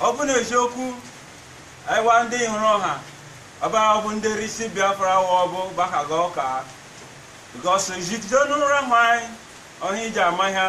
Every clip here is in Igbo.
ọ bụ na eziokwu anyị wa ndị Ihuruọha ọba ọbụ ndị risi biafra wa ọbụ gbakaga ọka because jidenu rahụ anyị ọhịa iji ama ha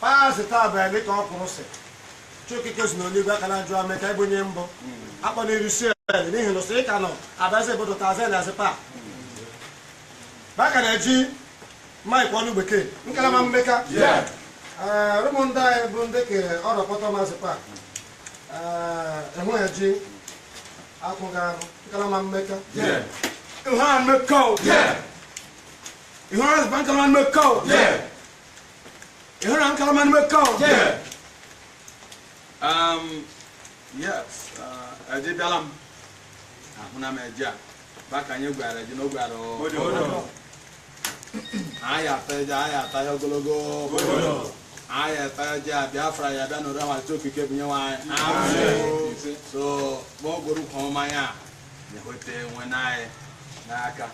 Paasị taa bụ ebe ka ọ kwụrụ sị Chiokike zụ n'eligwe aka na-ajụ mmeka ị bụ onye mbụ akpọ n'iru si ele n'ihi na sị ịka nọ adazi ebodo tazi na azị paa baka na eji ma ikwu ọnụ bekee nkalama mmeka Ee, rumunda bụ ndị ke ọrụ kpọtọ mazị paa enweghị eji akwụ ga arụ nkalama mmeka Ihuruọha mmeka o. Ihuruọha nkalama mmeka o. Ihuruọha nkalama mmeka o? Um, yes, uh, eji bịala m. Ahụna m eji a. Baka anyị gwara eji n'ogwe arụ. Anyị ata eji, anyị ata ya ogologo. Anyị ata eji a Biafra ya bịa n'ụra ma okike bụ nye nwaanyị. So, ma ọ gwụrụ kwa ọma ya, ya hote nwe n'anyị n'aka.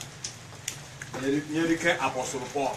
Nyerike Apostle Paul.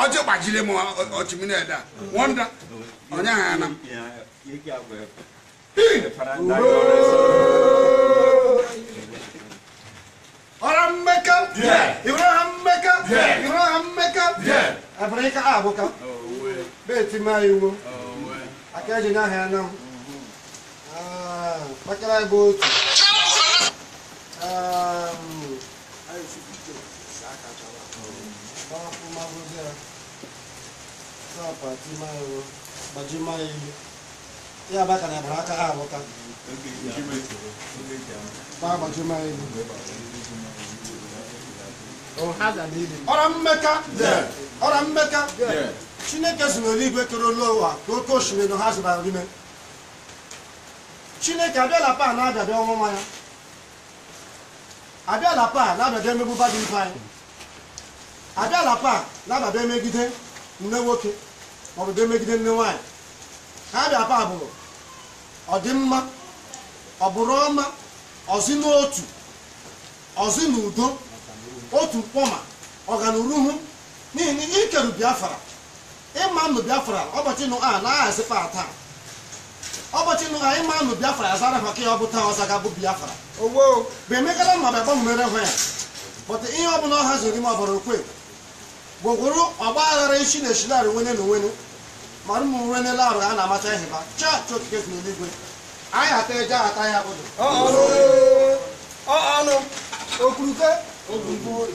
ọjị gbajiri m ọchịmiri ede a wọnda onye ahụ ana m ọra mmeka ihuruọha mmeka ihuruọha mmeka abụrụ ịka a abụka beti ma iwu aka eji n'ahịa ya na m kpakara bụ otu ya baka na bara aka ha abụta ọra mmeka ọra mmeka chineke si n'eluigwe kere elu ụwa ka oke osimiri na ha zụbara n'ime chineke abịala pa na-abịabịa ọnwụnwa ya abịala pa na-abịabịa emegbu ba dị ibe anyị abịala pa na-abịabịa emegide nne nwoke maọbụ bịa emegide nne nwaanyị ha abịa pa bụrụ ọdịmma ọbụrụ ọma ọzi n'otu ọzi n'udo otu mkpọma ọganuruhu n'ihi na ikeru biafra ịma nụ biafra ọbọchị nụ a na-ahazikwa a taa ọbọchị nụ a ịma nụ biafra ya zara maka ya ọ bụ taa ọza ga bụ biafra owo bụ emekala ma bịa gbanwere hụ ya bọta ihe ọ bụla ọ haziri ime ọbara okwe gwogworo ọgba aghara isi na eshinarị nwene na onwene ma ụmụ nwene larụ ha na-amacha ihe ba chaa chi okike si n'eluigwe anyị ata eje ata ya bụdụ ọnụ ọnụ okwuruke okwuruke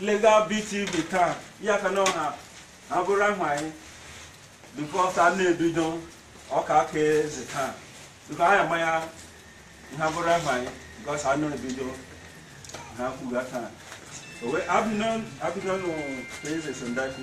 Legal BTV taa ya ka na ọha abụrụ ahụ anyị because a na-ebido ọka aka eze taa because anyị ama ya ha bụrụ ahụ anyị because a na-ebido ha kwuga taa abịnọ n'ụwa eze sondaki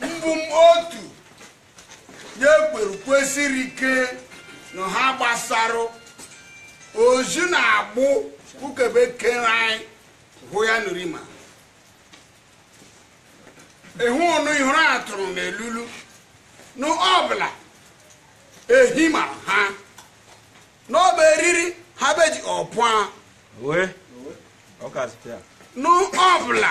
mbụ m otu na-ekweru kwesịrị ike na ha gbasara ozi na-agbụ ukebe kere anyị hụ ya nụrima ịhụ ọnụ ihụrụ atụrụ na elulu na ọbụla ehi ma ha n'ọba eriri ha beji ọpụa n'ọbụla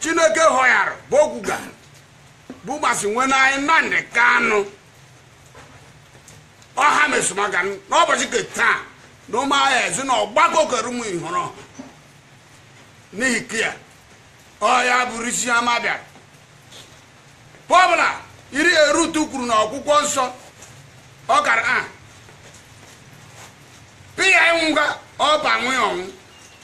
Chineke họyara bụ okwuga bụ maazị nwene anyị Nnamdi Kanu ọha mesomaka n'ụbọchị nke taa na ụmụahịa ezi na ọgbakọ kerumu ihụrụ n'ihi kia ọya bụrụ isi ama bịara pọbụla iri erutu kwuru na ọkwụkwọ nsọ ọ kara a pịa ịnwụga ọba nwụ ọnwụ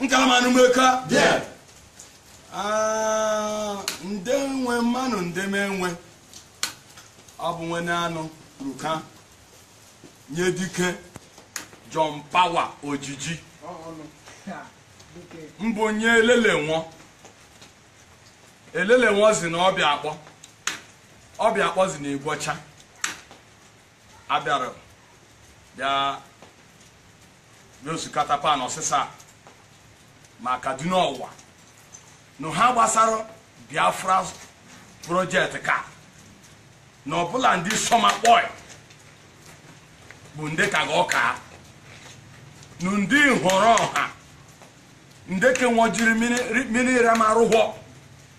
nkalama anụ meka ah, nde nwe mmanụ nde menwe ọ bụ nwene anụ ruka nye dike John Power ojiji mbụ nye elele nwọ elele nwọ zi na Obiakpọ Obiakpọ zi na Igweocha abịara bịa n'osikata pan ọsịsa ma kaduna ọwa na ha gbasara biafra project ka na ọbụla ndị sọma kpọị bụ ndị ka ga ọka na ndị nhọrọ ọha ndị kenwojiri mmiri ramarụhọ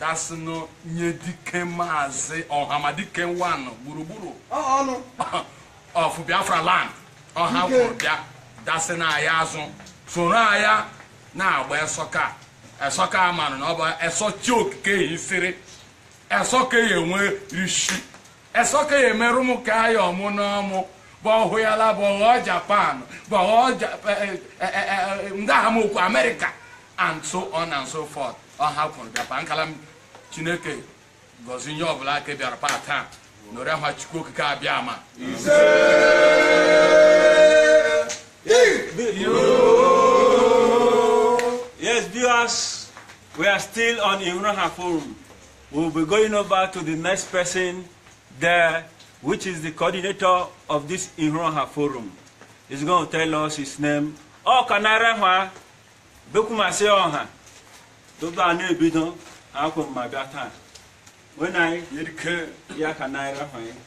dasịnụ nye dike maazị ọhamadike nwanụ gburugburu of biafra land ọha kwuru bịa dasị na ya azụ soro ya na-agba esọka esọka marụ na ọ bụ eso chi okike ya isiri esọka ya enwe rishi Ẹsọka ya emerụ m ka ya ọmụ n'ọmụ bọhụ ya la bọghọ Japan bọghọ Ja- eh, eh, eh, eh, eh, nga ha m okwu America and so on and so forth ọ ha kwuru bịakwa nkala m Chineke gọzi nye ọbụla aka bịara pa taa nọrọ ha Chukwu okike abịama Yes, viewers, we are still on Ihruoha Forum. We'll be going over to the next person there, which is the coordinator of this Ihruoha forum. He's going to tell us his name. Ọ ka nara ha bekwumasị ọha tupu a na-ebido akwụ mma bịa taa. When I, ya ka naira ha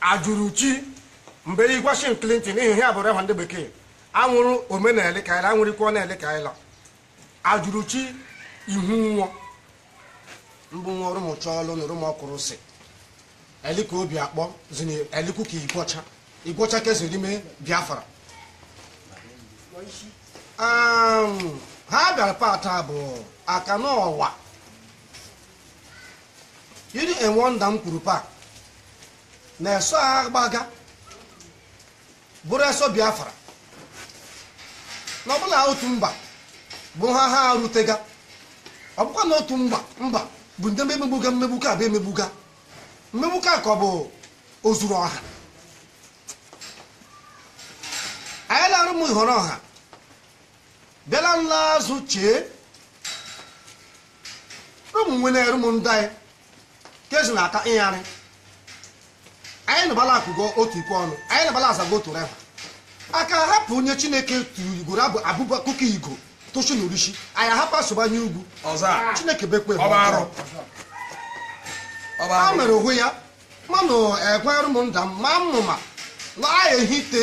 Ajụrụchi mgbe Washington Clinton ihe a bụ reha ndị bekee anwụrụ omenala ka anyị anwụrịkwa na eli ka anyị Ajụrụchi Ihunwo m bụ nwa Rumuchọlụ nụ Rumuokwurusi eli ka Obi Akpọ zini eliku ka igwọcha igwọcha ke zị rime biafra ha bịara pata bụ aka n'ọwa iri enwe nda m kwuru pa na eso agbaga bụrụ eso biafra na ọ bụla otu mba bụ ha ha arutega ọ bụkwa na otu mba mba bụ ndị emegbuga mmegbuka bụ emegbuga mmegbuka ka ọ bụ ozuru ọha anyị la rumu Ihruoha bịala nla azụ chee ụmụ nwene eru m ndị anyị kezi na aka ịyarị anyị na bala ekwugo otu ikwe ọnụ anyị na bala azago otu reha aka hapụ onye chineke tugoro abụ abụba kuka igo toshi na rishi anyị ahapụ asụbanye ugwu chineke bekwe ọba arụ ọba a arụ mere onwe ya manụ ekwere m nda m ma mmụma na ahịa ehite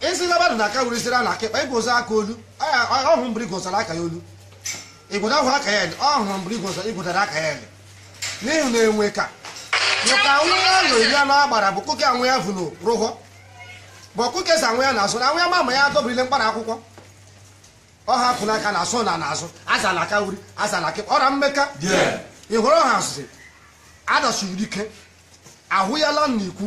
ezi na badụ n'aka uri ziri ya n'aka ịkpa ịgụzọ aka olu ọ hụrụ mgbe ịgụzara aka ya olu ịgụda ahụ aka ya eli ọ hụrụ mgbe ịgụzọ ịgụdara aka ya eli n'ihi na enwe ka nyoka anwụ ya nọ iri anọ agbara bụ kụke anwụ ya vụrụ rụghọ bụ ọkụke sa anwụ ya na-asụ na anwụ ya mama ya dọbụrile mkpara akwụkwọ ọ hapụ n'aka na asụ na n'azụ aza n'aka uri aza n'aka ịkpa ọra mmeka Ihruoha sị adọsiri ike ahụ ya la n'ikwu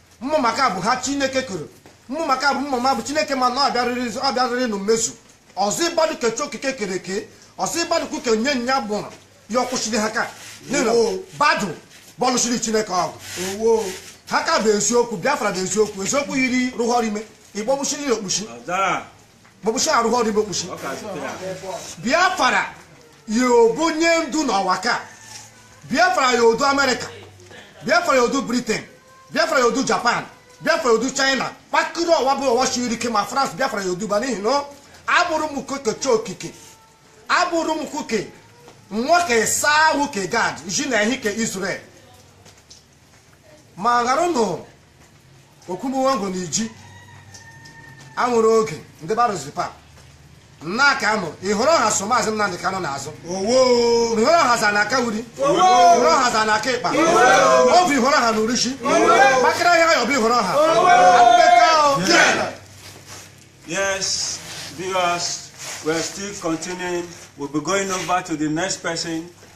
mmụ maka bụ ha chineke koro mmụ maka bụ mmụ ma bụ chineke ma na ọbịarịrị ọbịarịrị na mmezu ọ zị badụ ke chi okike kere eke ọ zị badụ kuke nye nya gbụrụ ya ọkwụchiri ha ka badụ bọlụchiri chineke ọgụ ha ka bụ eziokwu biafra bụ eziokwu eziokwu yiri rụghọrọ ime ịgbọgbuchiri ya okpuchi bọbụchi arụghị ọdịbe okpuchi biafra ya obu nye ndu n'ụwa ka biafra ya odu amerịka biafra ya odu britain biafra ya odu japan biafra ya odu china kpakịrị ụwa bụ ụwa siri ike ma france biafra ya odu ba n'ihi na a bụ rụmụ kuke chiokike a bụ rụmụ kuke nwoke saa ahụ ke gad ji na ehi ke israel ma ghara ụnụ okwumuwango na iji anwụrụ oge ndị barụzipa nna ka anụ Ihuruọha so maazị Nnamdị Kanụ n'azụ Ihuruọha za n'aka wuri Ihuruọha za n'aka ịkpa ọ bụ Ihuruọha nu risi kpakịrị ahịa ya ọ bụ Ihuruọha Yes, viewers, we're still continuing. We'll be going over to the next person.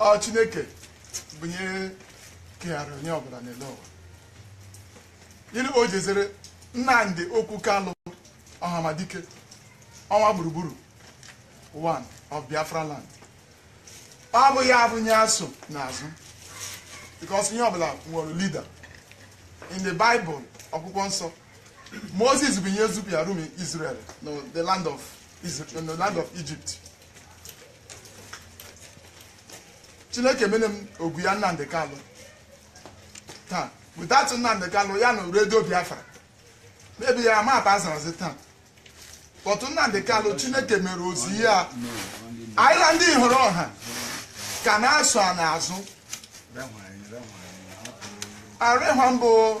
ọ chineke bunye kegharị nye ọbụla n'eli ụwa gịnị ka o jezere nnamdị okwu kalụ ọhamadike ọnwa gburugburu one of biafra land ọ bụ ya bụ nye a so n'azụ because nye ọbụla nwere leader in the bible ọkwụkwọ nsọ moses bụ nye zupịa rụmụ israel na the land of Israel, na the land of egypt chineke mene m ogu ya nnamdị kalụ taa without nnamdị kalụ ya na redio biafra maybe ya ma bazarazi taa but nnamdị kalụ chineke mere ozi ya anyị ndị Ihuruọha ka na-aso a n'azụ arịhwa m bụ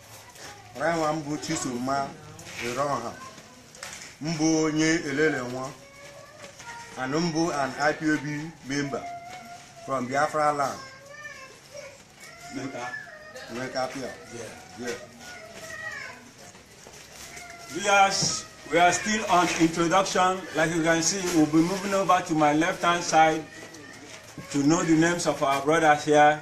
Ọranwa mbụ Chisoma Ereọha mbụ onye elele nwa and mbụ an IPOB member from Biafra land. Nka. Nka Pia. Yeah. Yeah. We are, we are still on introduction. Like you can see, we'll be moving over to my left-hand side to know the names of our brothers here.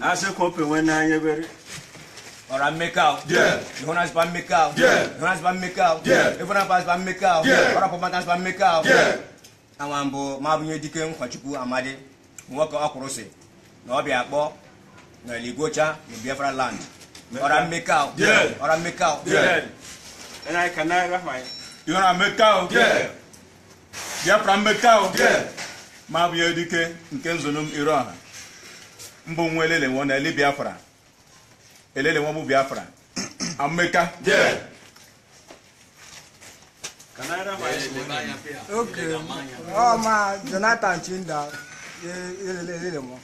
asịkwa openwe n'anya ebere ọha meka ịhụnazịkwa meka ịhụnazịkwa meka ịfụnapazịkwa meka ọrapụmatazịkwa meka awa m bụ ma bụ nye dike nkwachukwu amadi nwoke ọkwụrụ si na obiakpọ na eli igwocha na biafra land ọha meka ọha meka ịhụra meka Biafra meka ọ ma bụ nye dike nke nzonum Irọha m bụ nwa elelenwo na eli Biafra elelenwo bụ Biafra ameka ọ ma Jonathan Chinda elelenwo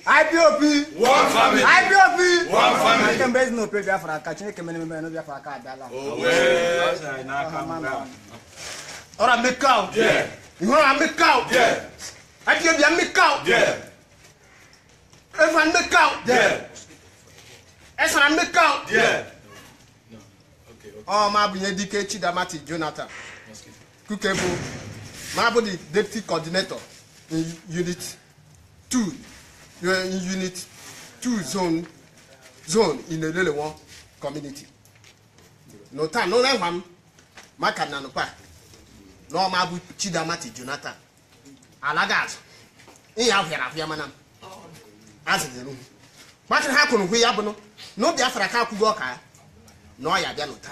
IPOB one family IPOB one family nke mgbe ezinụlọ ope Biafra aka Chineke mere ememe na Biafra aka abịala ọha meka ihu ọha meka adịghị bịa meka efa meka esara meka ọ ma bụ nye dike Chidamati Jonathan Kukebu ma bụ the deputy coordinator in unit 2 eh, in unit 2 zone in Elelenwo community no ta no na hwam maka na no pa na ọma bụ Chidi Amadi Jonathan alaga azụ ihe ahụyara ahụya mana m azụnyere ugwu maka ha kwuru hụ ya bụnụ na Biafra ka akwụgo ọka ya na ọ ya bịa n'ụta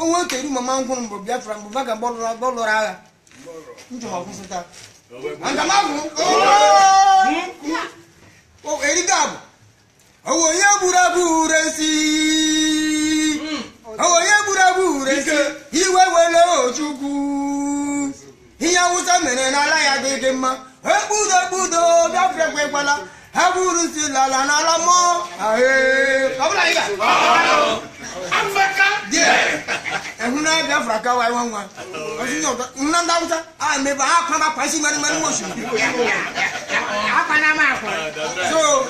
onwe kedu mama m gụrụ mbụ biafra mbụ baga bọlụrụ agha njọ ọkwụsịta aga m agụ erigo abụ ọ wụ onye gburu abụ ure si ọ wụ onye gburu abụ ure si iwe wele Ojukwu ihe awụsa mere n'ala ya dị dị mma ekpudo ekpudo biafra ekwekwala ha buru isi lala n'ala mmụọ ehuna biafra ka wa iwa nwa nna ndị awụsa a mebe ha akwa makwa isi nwere nwere nwosu akwa na ama akwa so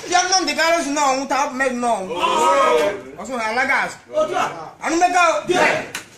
bịa nọ ndị gara si n'ọnwụ taa mmadụ n'ọnwụ ọsụ ha alaga asụ anụ mmekọ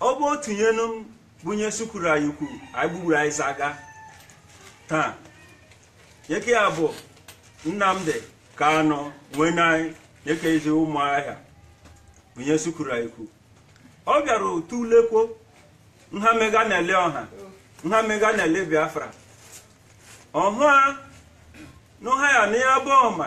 ọ bụ otu nyenu m bunye sukuru anyị ukwu anyị gbugburu anyị zaga taa yeke ya bụ Nnamdi Kanu nwee na anyị yeke ezi Ụmụahịa bunye sukuru anyị ukwu ọ bịara otu ulekwo nha mega na-ele ọha nha mega na-ele biafra ọhụa n'ụha ya na ya bụ ọma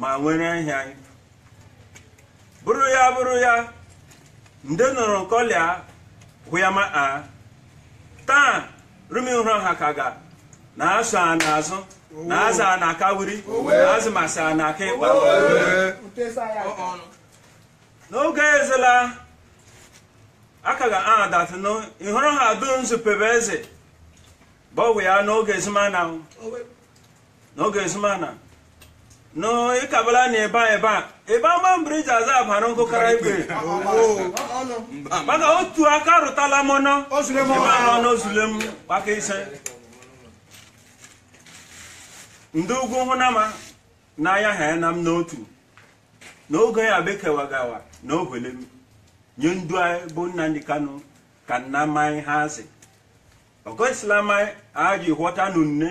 ma nwere ihe anyị bụrụ ya bụrụ ya ndị nụrụ nkọlịa hụyama a taa rumi hụrụ ha ka ga na asụ a n'azụ na aza a na-aka wuri na azụ masị a na-aka ịkpa n'oge ezela aka ga a datụnụ ịhụrụ ha dum zupebe eze bụ ọgwụ ya n'oge ezumana n'oge ezumana no ịkabala na ebe a ebe a ebe ama mbiri ji aza abara nkụ kara ibe maka otu aka rụtala mọnọ ebe a nọ n'ozule mkpaka ise ndị ugwu hụnama n'anya ha ya na m n'otu n'oge ya bekewagawa na ohwele m nye ndu anyị bụ Nnamdi Kanu ka nna mmanya ha azị o gosilama anyị aji ghọta nunne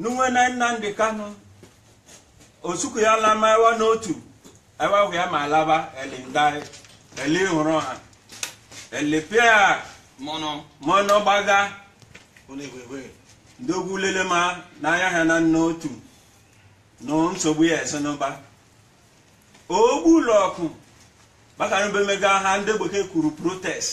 Nunwene Nnamdi Kanu osuku ya lama ewa n'otu ewa hụ ya ma alaba eli ndai eli hụrụ ha eli pịa mọnọ mọnọ gbaga ndị ugwu lele ma n'anya ha na n'otu na nsogbu ya esenụba ogbu ụlọ ọkụ maka na be mega nha ndị bekee kwuru protest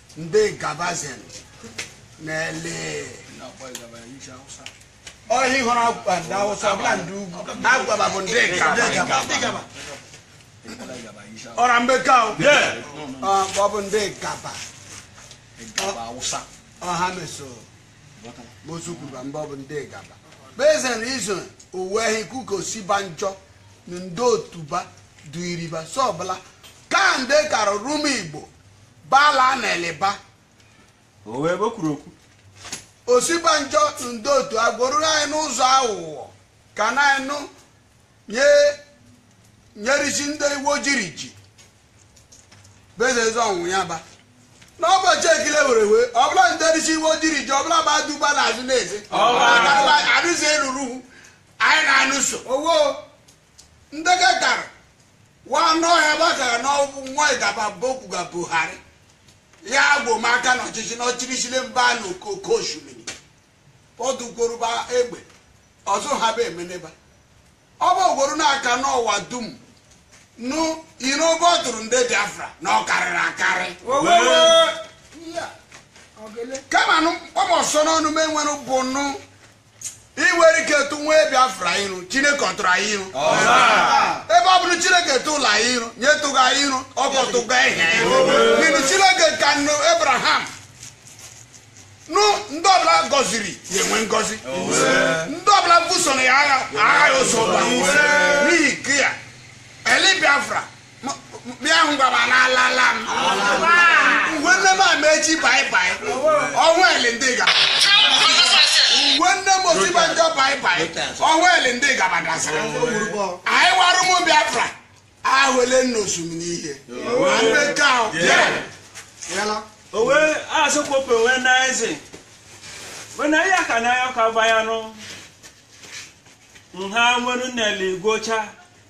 ndị gabazin n'eli ọhịa ịhụrụ agwa ndị awụsa ọbụla ndị ugwu agwaba bụ ndị gaba ọra mbeka o ọ bụ ndị gaba ọha meso mozu kwuru mgbe ọ bụ ndị gaba bezen izo uwe ehi kuko Osinbajo na ndị otuba duiriba sọbụla ka ndị kara Rumuigbo bala a na-eleba o wee o kwuru okwu Osinbajo ndị otu agwọruru anyị n'ụzọ aghụghọ ka na anyị nụ nyerisi ndị iwu ojiri ji bezeze ọnwụ ya ba n'ụbọchị ekile were wee ọbụla nderisi iwu ojiri ji ọbụla ba duba n'azụ na-eze Ọba. arụzi eruru anyị na-anụso owo ndege gara wa n'ọhịa gbagara n'ọgwụ nwa ịdaba bokwuga Buhari ya agbomaka n'ọchịchị n'ọchịrịchịrị mba na oke osimiri ọdụgworuba egbe ọzọ ha bụ emeneba ọ bụ ogworo n'aka n'ụwa dum nụ iro obe ọ tụrụ ndị biafra na ọ karịrị akarị kama nụ obi ụsọ n'ọnụ m enwere bụ nụ ị nwere ike tụ nwa biafra iru chineke ọtụrụ anyị iru ebe ọ bụrụ chineke tụla anyị iru nye tụga anyị iru ọkọtụga ihe n'ihi chineke ka nụ abraham nụ ndị ọbụla gọziri ya enwe ngọzi ndị ọbụla busoro ya agha agha ya ụzọ ụba n'ihi nke ya eli biafra bịa ngwaba n'alala m uwe nne m Amaechi bye bye ọnwa eli ndị gaba uwe nne m Osinbajo bye bye ọnwa eli ndị gaba gasịrị anyị wa rụmụ biafra ahụle n'osimiri ihe ma ndị nke ahụ bịa owe asụkwopụ wee na eze wee na ya ka na ya ka bayanụ nha nwere n'eli igọcha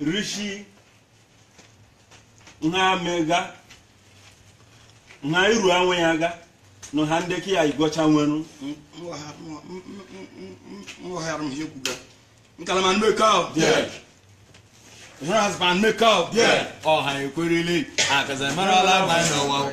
rishi nha mega nha iru anwe ya ga nụ ha ndị ka ya igọcha nwenu nghọghara m ihe kwuga nkalama anụ meka anụ meka, yeah. Ọha Ikwerre. I cause I'm not all out, I know.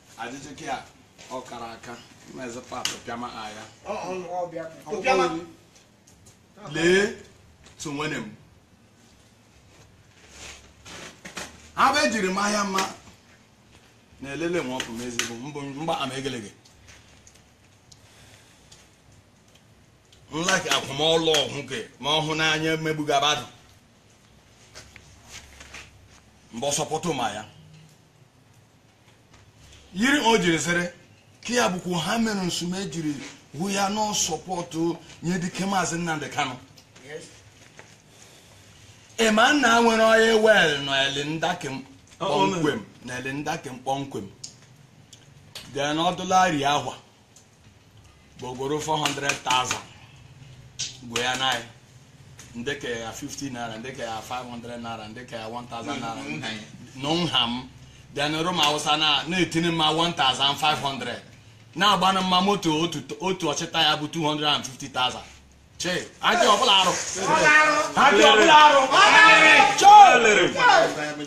Ajụjụ gị a ọ kara aka mezi pat pịama agha lee tu nwene m ha bụ ejiri m ahịa mma na-elele nwa ọkụ m ezigbo mbụ mgba ama egelege nlaki akwụmọlụ ọhụ gị ma ọhụ n'anya mmegbuga badụ mgbe ọsọpụtụ ma ya yiri o jiri sịrị ka ya bụkwa ha mere nsume jiri hụ ya na support nye dike maazị Nnamdi Kanu ịma na nwere oil well na eli nda kem na eli nda kem kpọmkwem dị n'ọdụlari ahwa gbogoro 400,000 gwe ya na ya ndị ka ya 50 naira ndị ka ya 500 naira ndị ka ya 1000 naira na nha m then rumu Awụsa na-etinye mma 1500 na-agbanụ mma moto otu ọchịta ya bụ 250,000 che ajọ ọbụla arụ ajọ ọbụla arụ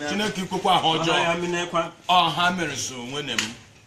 chineke ikwekwa ha ọjọọ ọha mere so nwene m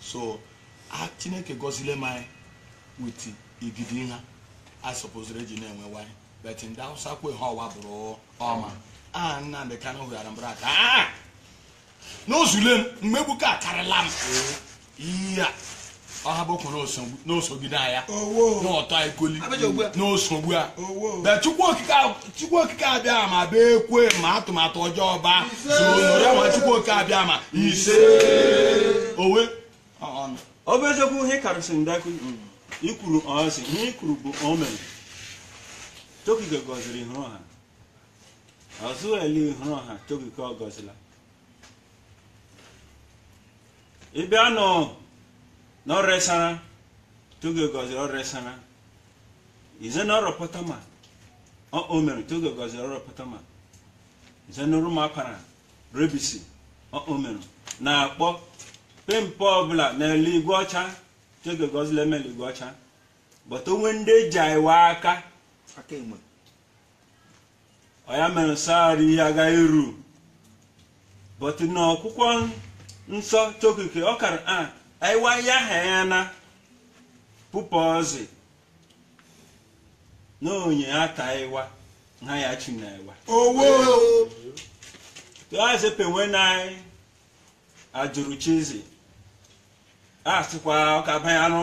so a chineke gọzile m anyị with igidi nha a supposere eji na-enwe iwai but ndị awụsa kwe ha ọwa bụrụ ọma a nnamdị kanụ hụghara mbara aka "Ah! n'ozule m mmegbu ka akarịla m ihe a ọha bụkwa n'osogide anya Owo. n'ọtọ ekoli Abịaja ugbu a. n'osogbu a Owo. but chukwu okike ahụ chukwu okike Abịama bee ekwe ma atụmatụ ọjọọ ba ya ma chukwu okike Abịama ise owe ọ bụ eziokwu ihe karịsị ndakụ ikwuru ọsị ihe ikwuru bụ omen Chokike gọziri Ihuruọha ozu eli Ihuruọha Chokike ọ gọzila ịbịa nu Oro-Esara Chokike gọziri Oro-Esara ize na Oropotoma ọ o mere Chokike gọziri Oropotoma ize na Rumu Apara Rebisi ọ o mere na Akpọ pempe ọbụla na eli Igweọcha Chokike gọzila eme eli Igweọcha but onwe ndị eji aịwa aka aka enwe ọ ya mere nsọ arụ ihe agaghị eru but na ọkwụkwọ nsọ chokike ọ kara a aiwa ya ha ya na pụpụ ọzị na onye ata iwa ha ya chi na iwa owo tụazị penwe na anyị ajụrụ chizi a sịkwa ọka banye anụ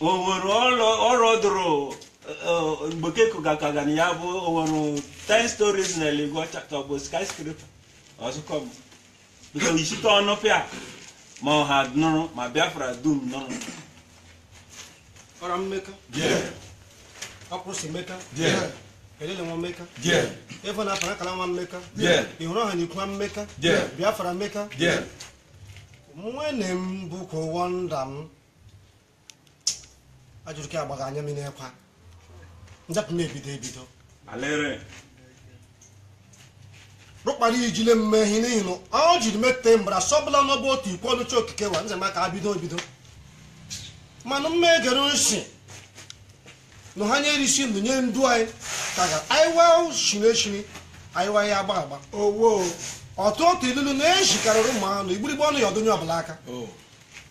owere ọrọ dụrụ mgbekeko gakaga na ya bụ owere 10 stories na eli Igweọcha ka ọ bụ skyscraper ọzụkọ m nke ichite ọnụ pịa ma ọha nụrụ ma biafra dum nụrụ ọra mmeka Okwurusi meka Elelenwo mmeka Evo na Apara akara nwa mmeka Ihuruọha na ikwu nwa mmeka biafra mmeka nwene m bụkwa ụwa nda m ajụrụ ka agbaghị anya mmiri ekwa njapụ m ebido ebido rụkpara ijile mme ihe n'ihi na ọ jiri mete embarrass ọbụla n'ọbụ otu ikwu ọnụ Chi okike wa nze maka abido ebido mana mma egere nsi na ha nye erisi ndụ nye ndu anyị ka ga aiwa shiri eshiri aiwa ya agba agba owo ọtụ otu ilulu na-ejikarịrị ụmụ anụ igburigbe ọnụ ya ọ dụ nye ọbụla aka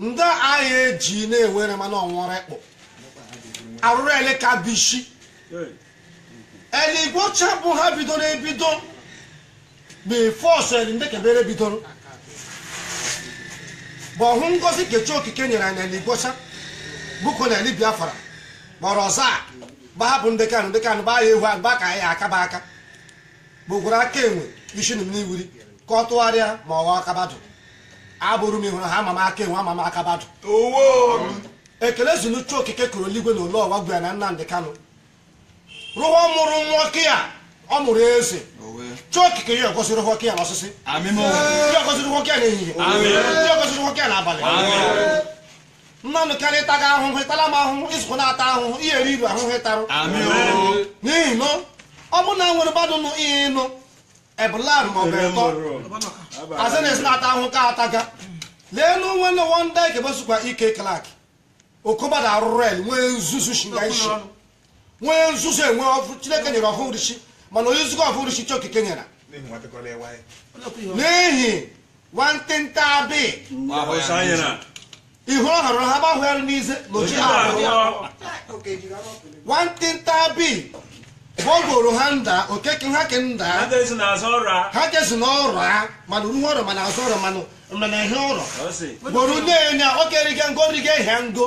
ndị agha eji na-enwere mana ọnwụrụ ekpụ arụrụ eli ka bishi eli Igweocha bụ ha bidoro ebido bụ first eli ndị kebere bidoro bụ ọhụ ngozi ke Chi okike nyere anyị eli Igweocha bụko na eli biafra kpọrọ ọzọ a gbahapụ ndị kanụ ndị kanụ bụ agha ehu agba ka anyị aka bụ aka gbukwuru aka enwe isi nụ m n'iwuri ka ọ tụgharịa ma ọ ghọọ aka badụ a bụrụ m ịhụrụ ha ama m aka enwe ama m aka badụ ekele zi nụ Chi okike kere eluigwe na elu ụwa gwara na nnamdị kanụ rụwa mụrụ nwoke ya ọ mụrụ eze Chi okike ya gọziri nwoke ya n'ọsịsị ya gọziri nwoke ya n'ehihie ya gọziri nwoke ya n'abalị nnamdị kanụ ịtaga ahụhụ ịtala m ahụhụ ịzụkọ na-ata ahụhụ ihe eri iru ahụhụ ịtarụ n'ihi na ọ bụrụ na nwere badụ nụ ihe ịnụ ebụlar ma ọ bụ ịtọ azị na-esi na-ata ahụhụ ka ataga lee na onwe na wọnda ikebesụkwa E.K. Clark okobadụ arụrụ eli nwee nzuzu shinga isi nwee nzuzu enwe ọfụ chineke nyere ọfụ rishi mana onye nzukọ ọfụ rishi Chi okike nyere n'ihi nwantịnta abị ihu ọ hụrụ ha gbahụgharị n'ize na oji ha nwantịnta abị gbọgoro ha nda okeke ha ke nda ha kezi na ọrụ ha mana uruhu ọrụ mana azụ ọrụ mana ihe ọrụ gboro na-enye okerige ngo rige ihe ngo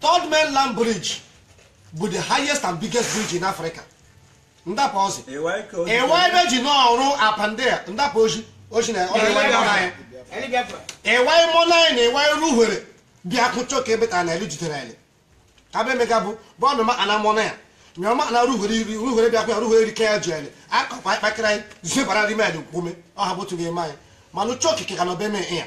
third mainland bridge bụ the highest and biggest bridge in africa ndapụ ọzọ ewe ebe ji n'ọrụ apandia ndapụ oji oji na ọrụ ewe mọ n'anya ewe mọ n'anya na ewe ru hwere bịa kụchọ ka ebe ta na elu jidere eli ka be emeka bụ bọọdụ ma ana mọ na ya nyọma na ruhwere iri ruhwere bịa kwa ruhwere iri ka ya ji ele akọkwa ịkpakịrị anyị zibara rime eli kwume ọ ha bụtụ ga-eme anyị manụ Chi okike na ọbeme ya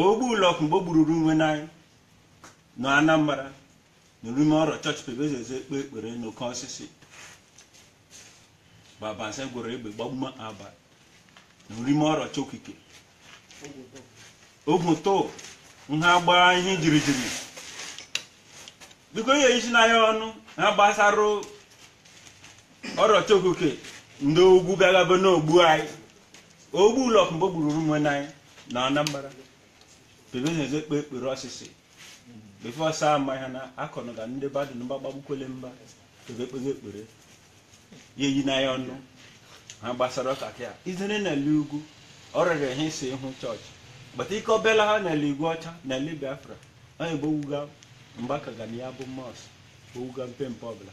ogbu ụlọk mgbe o gbururu nwenne anyị nọ anambra n'urime ọrọ chọọchị pebezeze ekpe ekpere n'oke osisi babanse gworo egbe gbagbume aba n'urime ọrọ Chi okike ogwu to nha gbaa ihe jirijiri biko ihe isi na ya ọnụ ha gbasara ọrọ Chi okike ndị ugwu bịagaba n'ogbu anyị ogbu ụlọk mgbe o gburu ụmụnne anyị na anambra bebenyeze kpe ekpere ọsịsị before ọsa ama ha na akọnụ ga ndị badụ na mgbagba gbukwele mba bebe kpego ekpere ya eyi na ya ọnụ ha gbasara ọka ka ya izere na ele ugwu ọ rịrị ha isi ịhụ chọọchị but ike ọbịala ha n'ele Igweọcha na ele biafra onye bụ owuga mgbaka ga na ya bụ mosque owuga mpempe ọbụla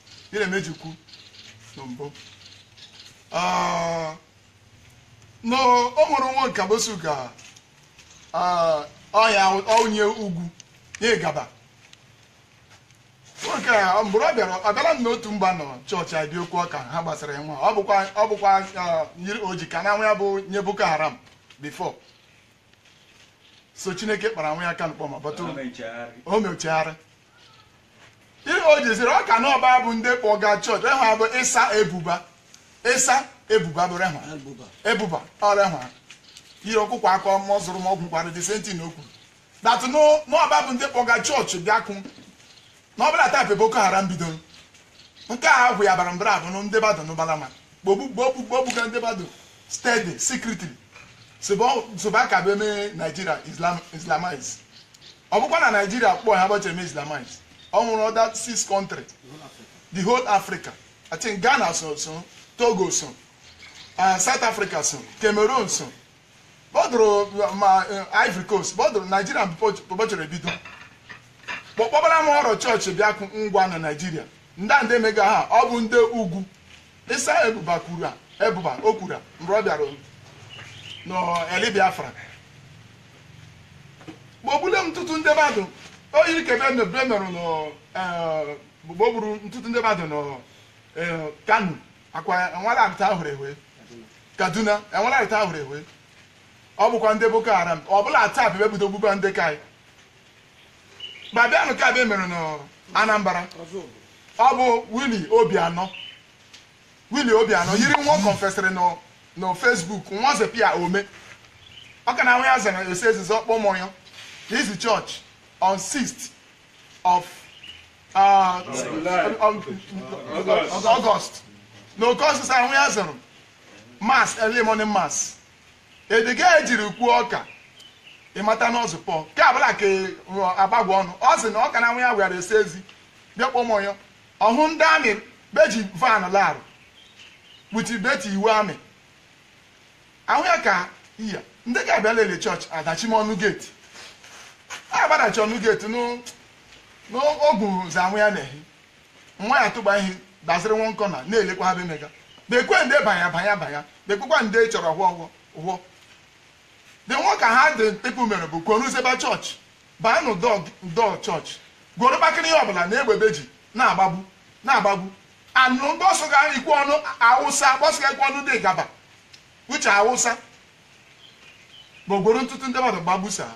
ihe na-emeji kwu na mbụ Ah, na o nwere nwoke a bosu ka ah, ọya onye ugwu ya ịgaba nwoke a mgbe ọ bịara ọ bịara m n'otu mba nọ chọọchị adị okwu ọka ha gbasara ya nwa ọ bụkwa ọ bụkwa ah, yiri oji ka na nwa ya bụ onye Boko Haram before so chineke kpara nwa ya aka n'ụkpọ ma but o mechegharị ihe o jiziri ọ ka n'ọba bụ ndị kpọga chọọchị rehwa bụ Isa Ebuba Isa Ebuba bụ rehwa ebuba ọ rehwa ihe ọkụkọ aka ọmọ zụrụ m ọgwụ kwara the same thing o kwuru that n'ọba bụ ndị kpọga chọọchị bịakụ na ọ bụla taa bụ boko haram bidoro nke a ahụ ya bara mbara abụ ndị badụ n'ụbala ma gbogbu gbogbu gbogbuga ndị badụ steady secretly soba ka bụ eme naijiria islamize ọ bụkwa na naijiria kpọọ ha bọchị eme islamize o nweru other six country the whole africa i think ghana so so togo so uh, south africa so cameroon so bọdụrụ ma uh, ivory coast bọdụrụ naijiria bọchịrị ebido kpọkpọbara m ọrụ chọọchị bịakụ ngwa na naijiria ndị a ndị emega ha ọ bụ ndị ugwu Isa Ebuba Ebuba o kwuru mgbe ọ bịara n'Eli Biafra gbogbule m ntụtụ ndị badụ o yiri ka ebe merụ gbogburu ntụtụ ndị badụ nọ Kano akwa enwelarịta ahụrụ ewe Kaduna enwelarịta ahụrụ ewe ọ bụkwa ndị Boko Haram ọ bụla taa bụ ebido gbugba ndị ka anyị ma bịanụ nke a bụ emere n'Anambra ọ bụ Willie Obianọ Willie Obianọ yiri nwa ọ kọnfesịrị na Facebook nwa zepia ome ọ ka na nwa ya zara esi ezizi ọkpọ ụmụ ya izi chọọchị on 6th of uh, August na oke ọsịsa nwa ya zere mass early morning mass Ediga ejiri kwuo ọka ịmata n'ọzụ pọ ke abụla ke agbagwa ọnụ ọ sị na ọka na nwa ya were esi ezi bịa kpọ ụmụ ya ọhụ ndị army beji van larụ kpuchi beti iwu army ahụ ya ka iya ndị ga-abịa lele chọọchị adachi m ọnụ geeti a gbadachi ọnụ geeti n'ogwu zanwụ ya na-ehi nwa ya tụgba ihe dasịrị nwa nkọ na na-elekwa ha bemega bekwe ndị banya banya banya bekwekwa ndị chọrọ hụọ the nwa ka ha dị people mere bụ kworuzeba chọọchị baa n'ụdọ chọọchị gworo kpakịrị ihe ọbụla na egbe be ji na-agbagbu anụ gbọsọ ga ikwu ọnụ awụsa gbọsọ ga ikwu ọnụ dị gaba uche awụsa bụ gworo ntụtụ ndị mmadụ gbagbusa ha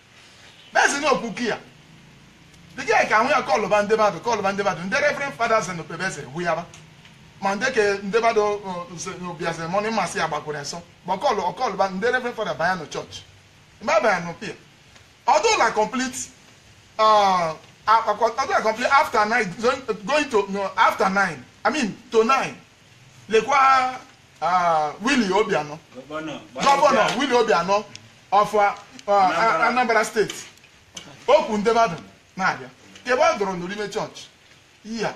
mezina okwuki ya dịka ya ka ahụ ya kọlụba ndị mmadụ ndị reverend fathers na pebeze hụ ya ba ma ndị ke ndị mmadụ bịaziri morning mass ya gbakwuru ọsọ ma ọkọlụba ndị reverend father banya nụ chọọchị mgbe abịa nụ pia ọdụla complete uh, ọdụla complete after nine going to no, after nine i mean to nine lekwa ah, Willie Obianọ gọvanọ Willie Obianọ of ah, ah, Anambra steeti okwu ndị mmadụ na-abịa ka ebe ọ dụrụ nụ n'orime chọọchị ya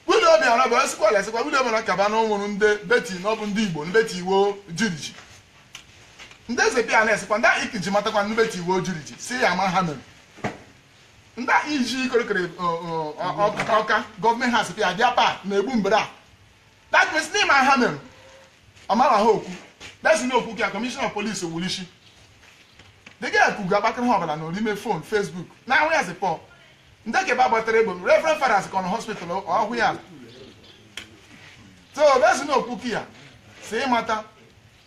Willie Obianọ bụ esikwa ala esikwa Willie Obianọ kaba na o nwere ndị beti na ọ bụ ndị Igbo ndị beti iwo jiriji ndị eze pia na-esikwa ndị ahụ ikiji matakwa ndị beti iwo jiriji si ya ma ha mere ndị ahụ iji ikorikori ọka gọọmenti ha sịpịa bịa pa na-egbu mbere a that means n'ime ha mere ọmara ha okwu desi na okwu ka kọmishọna polisi gburu isi dịga ya kugu akpakịrị ha ọbụla n'orime fon fesbuk na ahụ ya zipọ ndị kebe agbatara egbe reverend fathers kọ na hospital ọhụ ya so desi na okwu ya si ịmata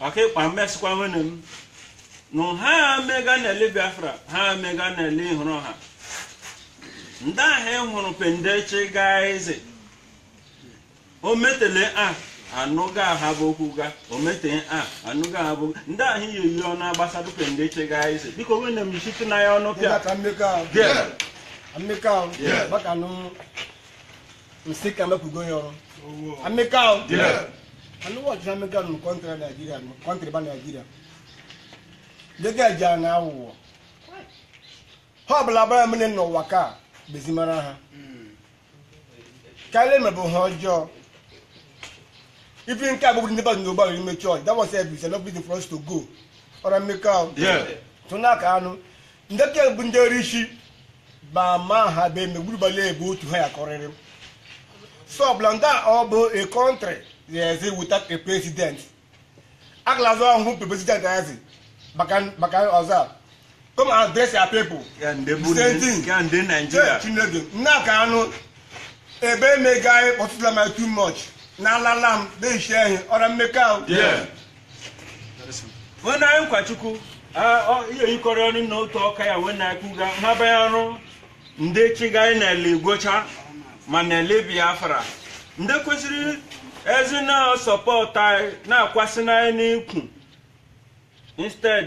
ọkaịkpa mmesịkwa nwene m nụ ha mega na-ele biafra ha mega na-ele ịhụrụ ha ndị ahụ ị hụrụ pendechi gaa eze o metele a anụga ha bụ okwu ga o metee a anụga ha bụ ndị ahụ iyi eyi ọnụ agbasado pendechi gaa eze biko nwene m isite na ya ọnụ pịa Maka Emeka o. Bịa. Emeka o. Yeah. Maka nụ nsị ka mepụgo ya ọrụ Emeka o anụwa ọchịchị amịka nụ kọntrị naijiria nụ kọntrị ba naijiria dịka eji a na awụwọ ha ọbụla ba mere n'ụwa ka bezimara ha karịa emebụ ha ọjọọ even ke agbagbu ndị mmadụ n'orime chọọchị that was a reason enough for us to go ọra Emeka o tụna ka anụ ndị ka bụ ndị ọrụ isi ba ma ha be megburugbala ebe otu ha ya kọrịrị so ọbụla ndị a ọ bụ a country that is without a president agalazụ ọhụụ pe president azi maka maka ọzọ a come and address your people Ya ndị bụ Same ndị- thing. ya ndị Chee, Naịjirịa na ka anụ ebe emega anyị kpọtụla m too much na alala m na-eshi ehi ọra Emeka o Yeah. nwenne anyị nkwachukwu ihe yikọrọ ọnụ na otu ọka ya wee na-ekwuga ha banye ọrụ ndị chịga anyị n'eli igwe ọcha ma n'eli biafra ndị kwesịrị ezi na sọpọtụ anyị na-akwasị n'anyị n'ikwu instead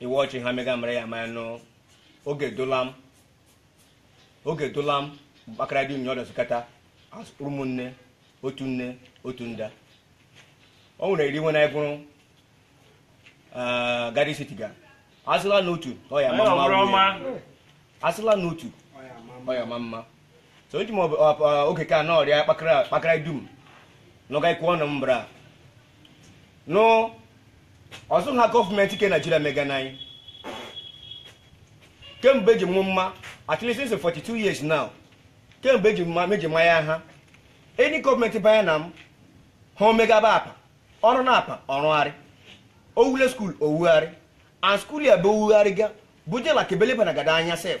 iwe ọchị ha mega mere ya maya nụ oge dolam oge dolam kpakara dị nyọrọ sukata ụmụnne otu nne otu nda o nwere iri nwe na ịgụrụ gari sitiga asịla n'otu ọ ya-ama mma asịla n'otu ọ ya-ama mma so eji m oge ka na ọrịa kpakara dum nọga ikwu ọnụ mbra no ọzọ ha gọọmenti ke naijiria mega na anyị kemgbe eji mụ mma at least since 42 years now kemgbe eji mma meji mma ya ha enyi gọọmenti banye na m ha omegaba apa ọrụ na apa ọrụgharị owule school owugharị and school ya bụ owugharị ga bujela kebeleba na gada anya sef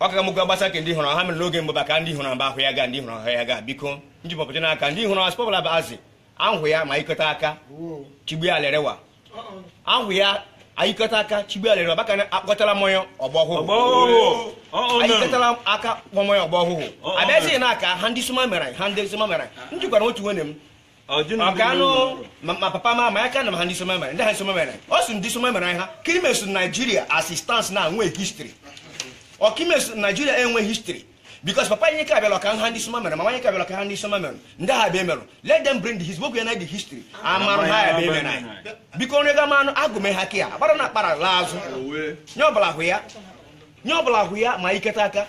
ọ ka mụgo gbasa ka ndị hụrụ ha mere n'oge mbụ ba ka ndị hụrụ mba ahụ ya ga ndị hụrụ ahụ ya ga biko njipọpụta n'aka ndị hụrụ aspọbụla bụ azị ahụ ya ma ikọta aka chigbe alerewa ahụ ya ayikọta aka chigbe alerewa baka na akpọtara mmanya ọgbọ ọhụrụ ayikọtara aka kpọ mmanya ọgbọ ọhụrụ abịazighị n'aka ha ndị sụma mere ha ndị sụma mere m jikwara otu nwenne m ọganụ ma papa ma ma ya ka na ha ndị soma mere ndị ha soma mere ọ sị ndị soma mere ha ka imeso naijiria assistance na nwee history ọka imeso naijiria enwe history because papa anyị ka abịala ka ha ndị soma mere ma nwanyị ka abịala ka ha ndị soma mere ndị ha bịa emerụ let them bring the his book na the history amarụ ha ya bịa emere anyị biko onye ga manụ agụme ha kịa agbara na akpara laa azụ nye ọbụla hụ ya nye ọbụla hụ ya ma iketa aka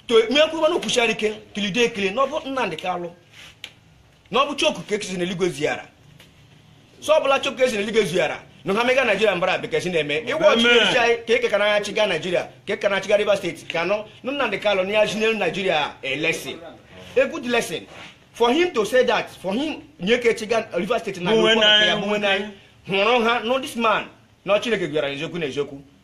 to mekwubanụ kwuchara ike kelide ekele na ọ bụ nnamdị kalụ na ọ bụ chukwu ka ekisi n'eluigwe ziara so ọ bụla chukwu esi n'eluigwe ziara na ha mega naijiria mbara bekesi na-eme ịgwa ọchịchị echichi anyị ka eke ka na-achịga naijiria ka eke na-achịga rivers state ka nọ nụ nnamdị kalụ na ya chinelu naijiria a lesson a good lesson for him to say that for him nye ke chịga rivers state na bụ nwenne ya, bụ nwenne anyị hụrụ ha no this man na chineke gwara ya eziokwu na eziokwu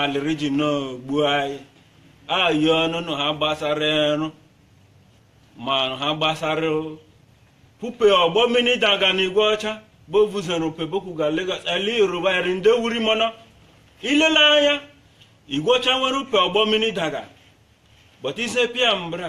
alịrị ji n'ogbu anyị anyị ọnụnụ ha gbasara ịrụ ma ha gbasara upe ụgbọ mmiri daga na igwe ọcha bovuzoro pebokwu ga Lagos ali yoruba eri ndị wuri mana i lele anya igwe ọcha nwere upe ụgbọ mmiri daga but ise pịa mbra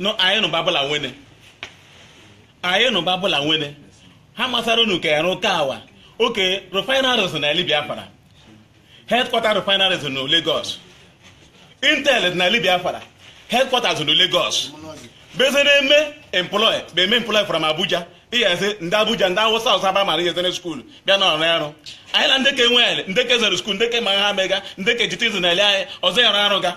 nụ anyị nụ babụla nwene anyị nụ babụla nwene ha masara unu ka ya rụka awa oke refineries n'eli Biafra headquarter refineries na Lagos Intel n'eli Biafra headquarters na Lagos beze na-eme employ bụ eme employ from Abuja ihe ezi ndị Abuja ndị awụsa awụsa ba mara ihe zere skuul bịa na ọrụ arụ anyị na ndeke nwe eli ndeke zere skuul ndeke ma ha mega ndeke jitizi na ele anyị ọzọ ya arụ arụ ga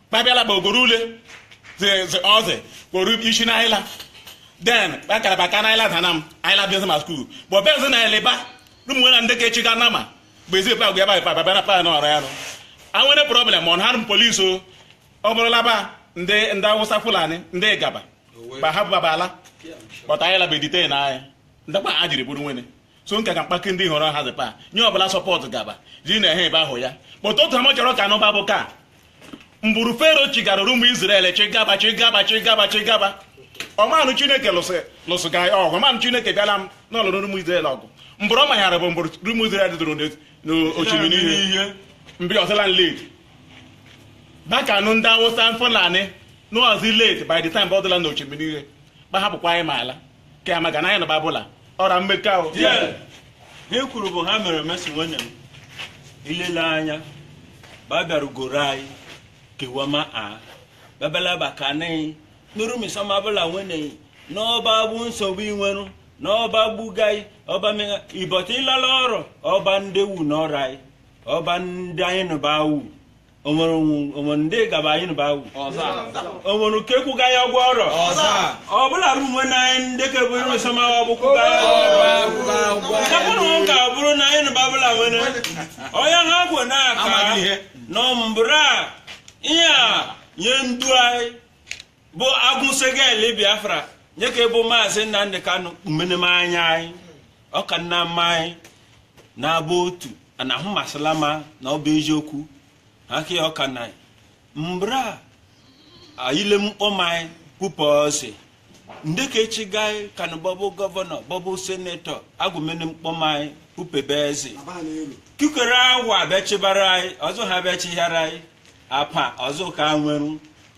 babịala bụ ogoro ule ọzị kporo isi na ayịla then akara baka na ayịla dana m ayịla bịa ma skuul but bezi na eli ba ụmụ na ndeke chịga nama bụ ezi pa gwa ebe pa bịa pa na ọrụ ya nụ anwere problem ọ na-arụ m polisi o ọ bụrụla ba ndị ndị awụsa fulani ndị ịgaba ba ha bụ baba ala but ayịla be detain anyị nda kpa a jiri bụrụ nwene so nka ka mkpaki ndị hụrụ ha zikpa nye ọbụla support gaba ji na ehe ebe ahụ ya kpọta otu ama chọrọ ka anụba bụ ka mbụrụ fero chigara rụmụ Izrel chigaba chigaba chigaba chigaba ọmanụ chineke lụsị ga ọgụ ọmanụ chineke bịala m n'ọlụrụ ụmụ Izrel ọgụ mbụrụ ọ maghara bụ mbụrụ ụmụ Izrel dụrụ n'osimiri ihe mgbe ọ dịla late maka anụ ndị awụsa Fulani n'ọzi late by the time ọ dịla n'osimiri ihe gbahapụkwa anyị ma ala ka ya maka na anyị nụ ba bụla ọra mmekọ ahụ Yeah. ihe kwuru bụ ha mere mesi nwene m ilele anya ba bịarugoro anyị kewama a bebela ba ka anyị nụ rụmụ Isoma bụla nwene n'ọba bụ nsogbu inwerụ n'ọba gbugai ọba mega but ịlala ọrọ ọba ndị wu n'ọrọ anyị ọba ndị anyị nụba wu onwere onwere ndị gaba anyị nụba wu onwere ke kwụga ya ụgwọ ọrụ ọ bụla bụ nwe na anyị ndeke bụ rụmụ Isoma ọ bụ kwụga ya ụgwọ nka bụrụ na anyị nụba bụla nwene onye ha gwụ na-aka nọ mbụra ihe a nye ndu anyị bụ agụ sege eli Biafra nye ke bụ maazị Nnamdị Kanụ kpumeneme anya anyị ọ kanama anyị na-abụ otu anahụ masịla ma na ọ bụ eziokwu aka ya ọka na mbra ayile mkpọm anyị kwupụ ozi ndeke chịga anyị kanụ bọbụ gọvanọ bọbụ senetọ agụmene mkpọm anyị kwupebe eze kikere awa abịachibara anyị ọzọ ha abịachighara anyị apa ọzọ ka nwere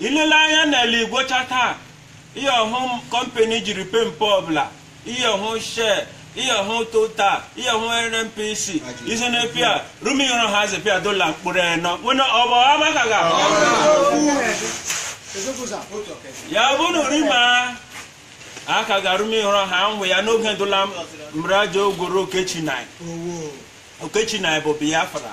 ilele anya n'eli Igweọcha taa ihe ọhụ kọmpani jiri pempe ọbụla ihe ọhụ shell ihe ọhụ total ihe ọhụ nnpc isi na pia rumi yọrọ ha zi pia dola mkpụrụ enọ wena ọbọ amaka ga ya bụ na rima aka ga rumi yọrọ ha nwụ ya n'oge dola mraja ogworo oke Chi nye anyị oke Chi nye anyị bụ Biafra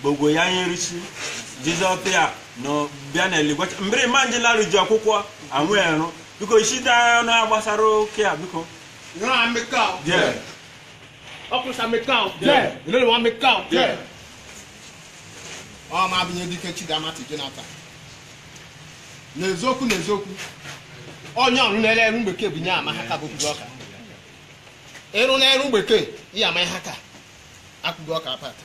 gbogbo ya nyerisi jizọ pịa na bịa na Eligwọcha mbiri ma nji larụ ji akwụkwọ anwụ erụ biko isi da ọnụ a gbasara oke a biko Unu meka o. Yeah. Officer, meka o. Yeah. Unu meka o. Yeah. Ọ ma abụ nye dike Chidamati Jonathan. N'eziokwu n'eziokwu, onye ọrụ na-ere eru mgbeke bụ nye ama ha ka bụkwuru ọka. Ịrụ na-eru mgbeke, ihe ama ha ka akwụgo ọka apata.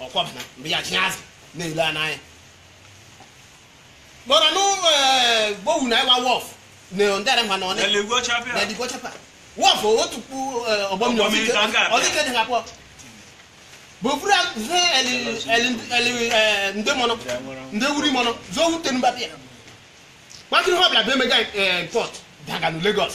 ọkwa mana mgbe ya tinye azụ na-ele a n'anya kpọrọ nụ eh, gbowu na ịwa wharf na ndị ara mma na ọnị Eligwọcha pịa. na dịkwa chapa wharf otu kpu eh, ụgbọ mmiri Ụgbọ mmiri ka m ga-abịa. ọdịke dị ha pụọ bụ buru ihe eli- eli- eli- eh, ndị mọnọ ndị wuri mọnọ zụọ wute mba pịa gbakịrị ha bịara bụ mega port daga na Lagos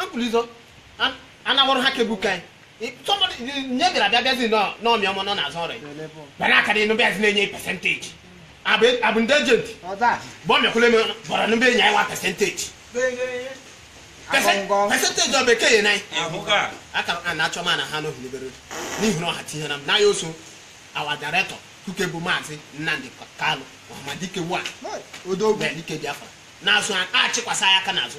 ampụlizo anawọrọ ha kebu ka nye bịara bịa bịazi n'ọmị ọmụ nọ n'azụ ọrụ bịa n'aka dị n'ụbịa zi na-enye percentage abụ ndị agent bụ ọmịakwụle m gbara n'ụbịa enye anyị one percentage percentage ọ bekee ya n'anyị aka a na-achọ ma na ha n'ohi n'ebere n'ihi na ọha tinye na m n'anya oso our director kuke bụ maazị Nnamdi Kanu ọhamadike wa dike biafra na-azụ achịkwasị ya aka n'azụ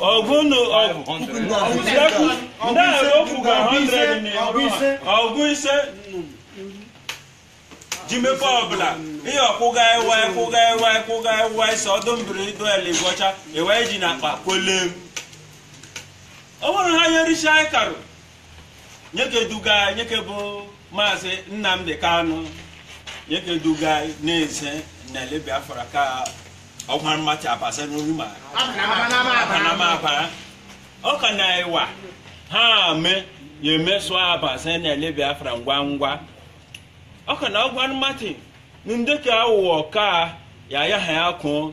ọgụnụ ndị okwu ga 100 na ọgụ ise ji mepe ọbụla ihe ọkwụga ewe kwụga ewe kwụga ewe ise ọdụ mbiri ido Eligwọcha ewe ji na akpa kwele o nwere ha nyerisi anyị karụ nyeke duga nyeke bụ maazị Nnamdi Kanu nyeke duga na-eze n'eli Biafra ka ọgwa mmachi abasa n'olu ma apanamabara ọ ka na ịwa ha ame ya emeso abasa n'eli Biafra ngwa ngwa ọ ka na ọgwa mmachi ndị ka aghụghọ ka ya ya ha ya kụọ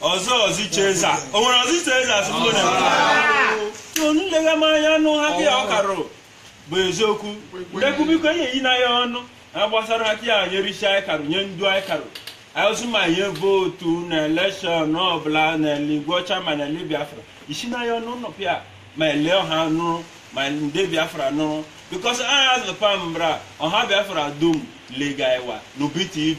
ọzọ ọzọ cheza o nwere ọzọ cheza asụsụ onye so nlega m anya nụ ha gị ọ karụ bụ eziokwu ndekwu biko enye yi na ya ọnụ ha gbasara ha ya nyerisi anyị karụ nye ndu anyị karụ anyị ma nye vootu na election ọbụla na eligwọcha ma na eli biafra isi na ya ọnụ nọpịa ma ele ọha nụrụ ma ndị biafra nụrụ because aha azụpa mbra ọha biafra dum lega iwa n'ubi tv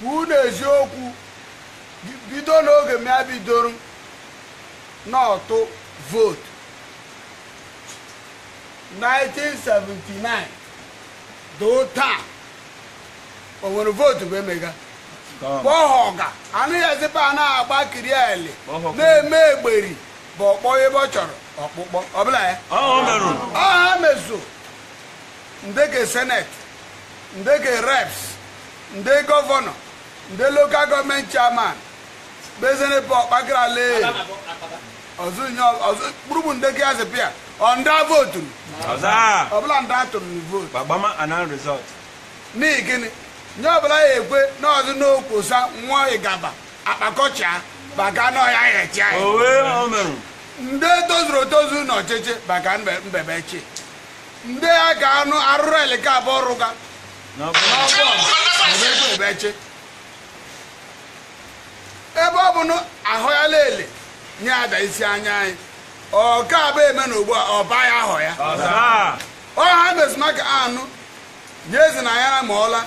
kwuo na eziokwu bido n'oge m ya bidoro n'ọtụ vootu 1979 doo taa o nwere vootu bụ emega kpọhọga anaghị ezikpa a na-agba kiri ele na-eme egberi bụ ọkpọ ebe ọ chọrọ ọkpụkpọ ọbụla ya ọ ha mezu ndị ke seneti ndị ke reps ndị gọvanọ ndị lokal gọọmenti chairman bezenepe ọkpakarale kpụrụbụ ndị ke azịpịa ọ ndị votu ọbụla ndị atụrụ na votu gbagbama ana result n'ihi gịnị nye ọbụla ya ekwe n'ọdụ n'okwosa nwa ịgaba akpakọcha baka n'ọhịa ya echi anyị ndị tozuru etozu n'ọchịchị baka mbebechi ndị ha ka anụ arụrụ eli ka abụ ọrụ ga n'ọbọbeche ebe ọ bụ na ahụ ya lele nye ada isi anya anyị ọ ka abụ eme na ugbu a ọ ba ya ahụ ya ọ ha mezi maka anụ nye ezi na ya ma ọla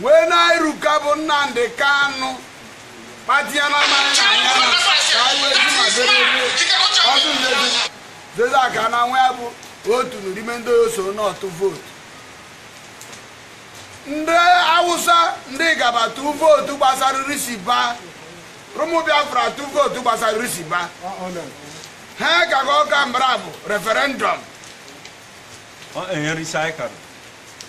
wee na-eruka bụ nnamdi kanu kpatịa na mmanya na anya na ka anyị wee ji ma dere ọdụ nlezi Zezak Ananwụ ya bụ otu n'ime ndị oso n'ọtụ vootu ndị awụsa ndị gaba tụ vootu gbasara risiba rụmụ biafra tụ vootu gbasara risiba ha ka ga ọka mbara bụ referendọm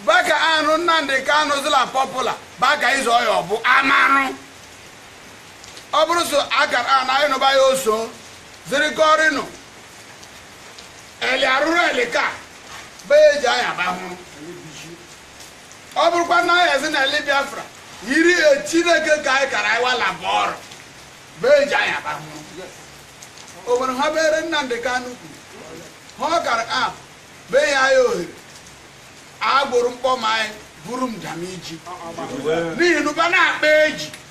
baka anụ nnamdi kanu zila pọpụla baka ịzọ ọya ọbụ amanụ ọ bụrụ so akara anyị nụba ya oso zirikọrịnụ eli arụrụ eli ka be eji anya ba hụrụ ọ bụrụkwa na anyị ezi na eli biafra yiri e chineke ka anyị kara anyị wala bụ ọrụ be eji anya ba hụrụ o nwere ha bere nnamdi kanu kwuru ha kara a be ya anyị ohere agbụrụ mkpọm anyị buru m jam iji n'ihi na ụba na-akpa eji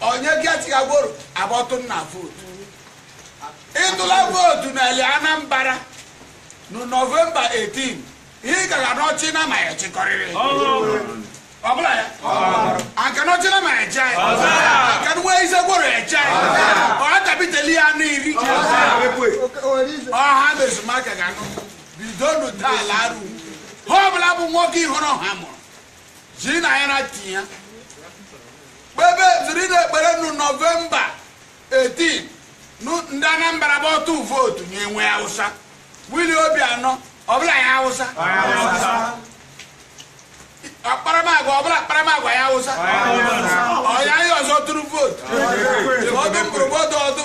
onye gatiga gworo agbọtụ nna vootu ịtụla vootu n'eli anambra na nọvemba 18 ị gara n'ọchị na ma ya chịkọrịrị ọbụla ya anka n'ọchị na ma ya ji anyị anka nwa ise gworo ya ji anyị ọha tabiteli ya anụ iri ọha mezu maka ga anụ bido nu taa laru ha ọbụla bụ nwoke ịhụrụ ha mụrụ ji na anyị na tinye kpebe ziri na ekpere nụ nọvemba 18 nụ- ndị anambra bụ ọtụ vootu nye enwe hausa wili obianọ ọbụla ya hausa akparamagwa ọbụla akparamagwa ya hausa ọya anyị ọzọ tụrụ vootu ọdụ mgbụrụgbọdụ ọdụ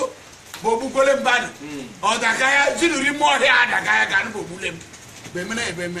bụ ogbukwele mmadụ adaka ya jinuri ime ọhịa adaka ya ka anụ bụ ogbule m bemere ebeme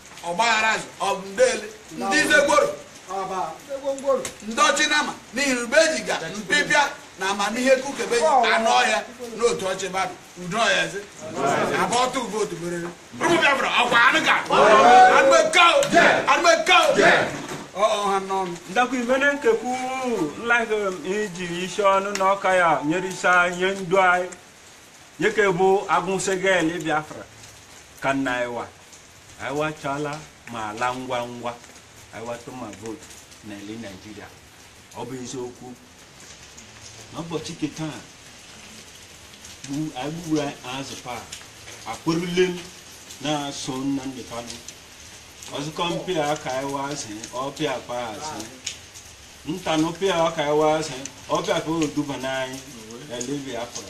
ọgbaghara azụ ọbụ ndele ndị zegboro ndị ọchị nama n'ihi ube ejiga mpịpịa na amamihe kukebe anụ ọhịa n'otu ọchị mmadụ udo ọhịa zi abụ ọtụ ube otu berere ụmụ biafra ọkwa anụ ga anụ eke anụ eke ọha n'ọnụ ndakwa imene nkekwu nlaghị iji isi ọnụ na ọka ya nyere isi anyị onye ndu anyị nyeke bụ agụnsegel biafra ka nna ịwa anyị wachala ma ala ngwa ngwa anyị watụ ma vootu na ele naijiria ọ bụ eziokwu n'ụbọchị nke taa gbu- anyị gburu azụ paa akpụrụle m na-asụ nnamdi kanu ọzụkọ mpịa ka anyị wazi ọpịa pa azụ ntanụ pịa ka anyị wazi ọpịa pa oduba n'anyị ele biafra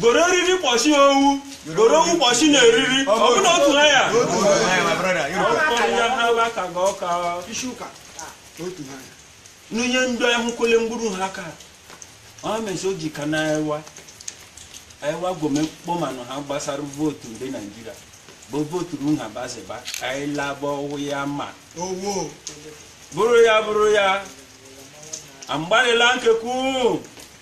goro eriri kpọchi owu goro owu kpọchi na eriri ọ bụ na otu na ya n'onye ndị ahụkwele mgburu ha ka ọ mesi o ji ka na ewa ewa gome kpọmanụ ha gbasara vootu ndị naijiria bụ vootu ru ha baziba ka anyị laba ọwụ ya ma bụrụ ya bụrụ ya amgbalịla nkekwu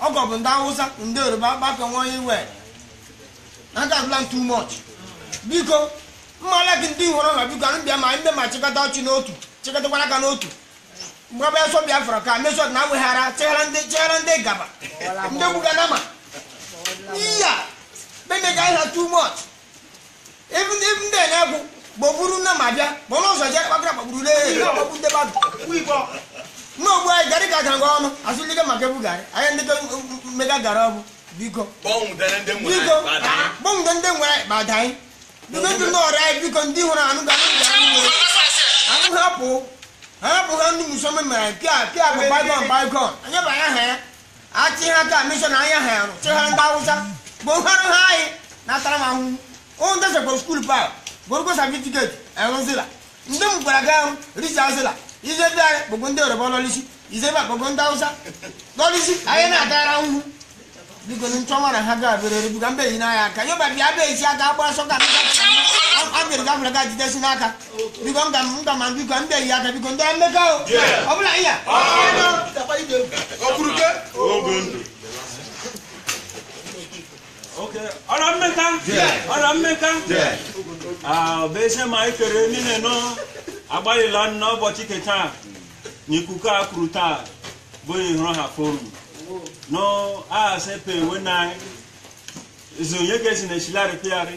ọgọ bụ ndị awụsa ndị yoruba gbakọ nwa onye iwe na ndị abụla too much biko mmala gị ndị hụrụ na biko anyị bịa ma ndị ma chịkọta ọchị n'otu chịkọtakwara aka n'otu mgbe ọbịa sọ biafra ka mesọt na aweghara cheghara ndị cheghara ndị gaba ndị gbuga nama iya bemega ha too much Even even then, I go. Boburu na mabia, bono so je pa gra boburu le, na bobu de ba. Wi bo. No bo ai gari ka kan gono, asu lige ma ke bu gari. Ai ndi ke mega gara bu. Biko. Bom de nde mu. Biko. Bom de nde mu ba dai. Biko ju no ra biko ndi hu na anu ga anu ga anu. Anu ha po. Ha po ga ndu mu so me ma pia pia ba ba gon ba gon. Anya ba ya ha. achị ha ka mishọn anya ha arụ chịghara ndị awụsa bụ nhọrọ ha anyị na-atara m ahụhụ ụmụ ndị sekpọrọ skuul pa gorogo satifiketi enwezila ndị m gwara gị ahụ richazila ize ndị anyị bụgo ndị yoruba lọlisi ize ba bụgo ndị awụsa lọlisi anyị na-atara ahụhụ biko ni nchọnwa na ha ga-abịarịrị biko mbe yi n'anya aka yoba bịa bịa isi aka agbara sọka a bịrị gafere ga jidesi n'aka biko m ga m ga ma biko ndị eyi aka biko ndị emeka o ọ bụla iya ọ̀rọ̀ mmeka ọ̀rọ̀ mmeka ọbese ma anyị kere niile ọnụ agbalịla n'ụbọchị ke taa na ikuku a kwuru taa bụ ihụrụ ha forum nọ a sepe enwe na anyị zonye ga-esi na eshilari pịarị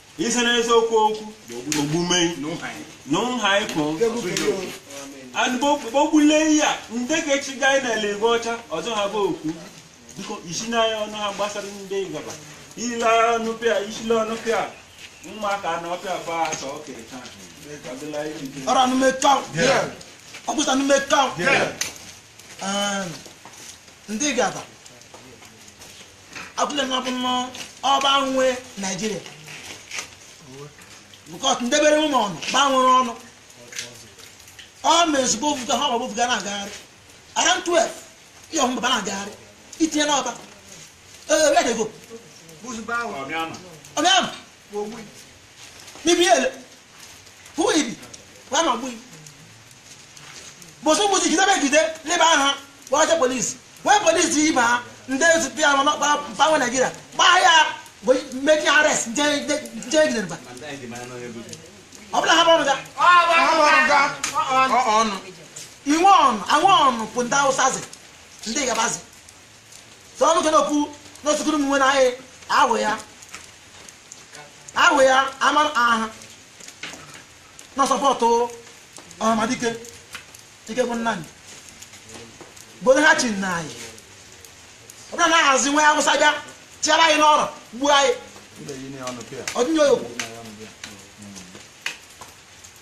ise n'eziokwu okwu ogbume n'ụhaịkụ anụbogbule ihe a ndị ga-echi gaa na eluigwe ọcha ọzọ ha bụ okwu biko isi n'anya ọnụ ha gbasara ndị gaba ile ọnụ pịa isile ọnụ pịa ụmụaka na ọpịa ba asọ okere taa ọdịla iri nke ọrụ ọnụ emeka ọkpụsa ọnụ emeka ndị gaba abụla nwa bụ nnọọ ọba nwe naijiria because ndebere ụmụ ọnụ gbanwere ọnụ ọ ma ezigbo ofuga ha ọgbagbo ofuga na-agagharị around 12 ihe ọmụba ba na-agagharị itinye n'ọba ee where they go Who's Bauer? ọmịama bụsụ mgbuchi jidebe ejide leba aha kpọrọcha police when police ibe ha ndị ezute ya mana ọkpara mba nwe naijiria gbaa ya make arrest nje ejidere mba ọ bụla ha bụrụ ga inwe ọnụ anwe ọnụ bụ ndị awụsazi ndị gabazi so ọnụ ke n'okwu n'osukuru m nwe na anyị ahụ ya ahụ ya ama aha ọnụ support ọhamadike ike bụ nna anyị gboro ha chi nna anyị ọ bụla na-ahazi nwa awụsa bịa tiara anyị n'ọrụ gbuo anyị ọdịnye oyokwu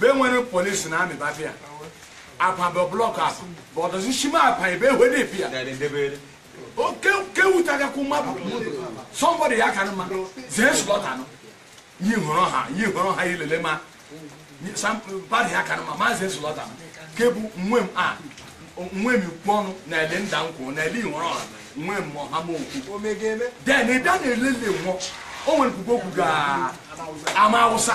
be nwere polisi na amị ba bịa apa bụ block apa bụ ọdọzi shima apa ebe ehwe na-ebi ya oke kewutagakwu mmadụ somebody ya ka mma zee slaughter nọ yi hụrụ ha yi hụrụ ha ilele ma bari ya ka mma ma zee slaughter nọ kebu nwe m a nwe m ikwu ọnụ na ele nda nkwụ na ele ihụrụ ọha nwe m ọha m okwu then ị bịa na elele nwụọ o nwere kwukwu okwu ga ama awụsa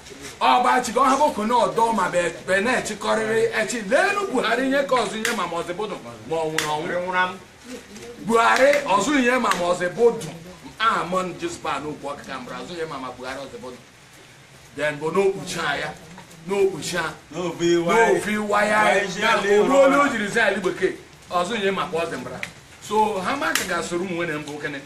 ọbachi ka ọ hapụ kone ọdọ ma be na-echịkọrịrị echi leenu buhari nye ka ọzụ onye ma ma ọ zị bụdụ ma ọ nwụrụ ọnwụ buhari ọzụ onye ma ma ọ zị bụdụ aha mọn jizba n'okwu ọkịka mbara ọzụ onye ma ma buhari ọ zị bụdụ then bụ n'okpuchi ya n'okpuchi a n'ofi waya ya ruo onye o jiri zị ali bekee ọzụ onye maka ọ zị mbara so ha maka ga-asoro ụmụ nwere mbụ kene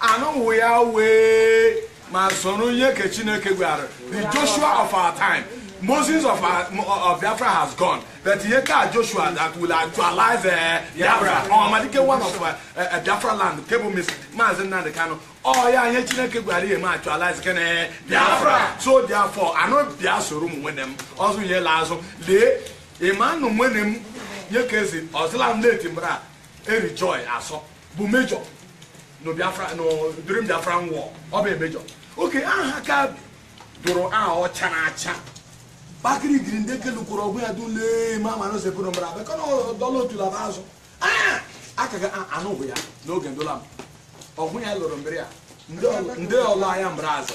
anụnwụ ya wee ma soro ihe ka chineke gwara the joshua of our time moses of, our, of biafra has gone but ihe ka joshua that will actualize uh, biafra ọhamadike one of uh, uh, biafra land nke bụ maazị nnamdi kanu ọ ya ihe chineke gwara ihe ma actualize kene biafra so therefore anụ bịa soro ụmụ nwene m ọzọ ihe la azụ lee ịma nụ nwene m nye ka ezi ọzịla m na-eti mbara Eri Joy Asọ bụ major no Biafra no during Biafra war ọ bụ major okay aha ka dụrụ aha ọcha na acha bakiri giri ndị kelu kwuru ọgwụ ya dule ma ma no sepu no mbara bekọ no dọla otu laba azụ ah aka ga anụghị ya n'oge ndola m ọgwụ ya lụrụ mbere ya ndị ọla ya mbara azụ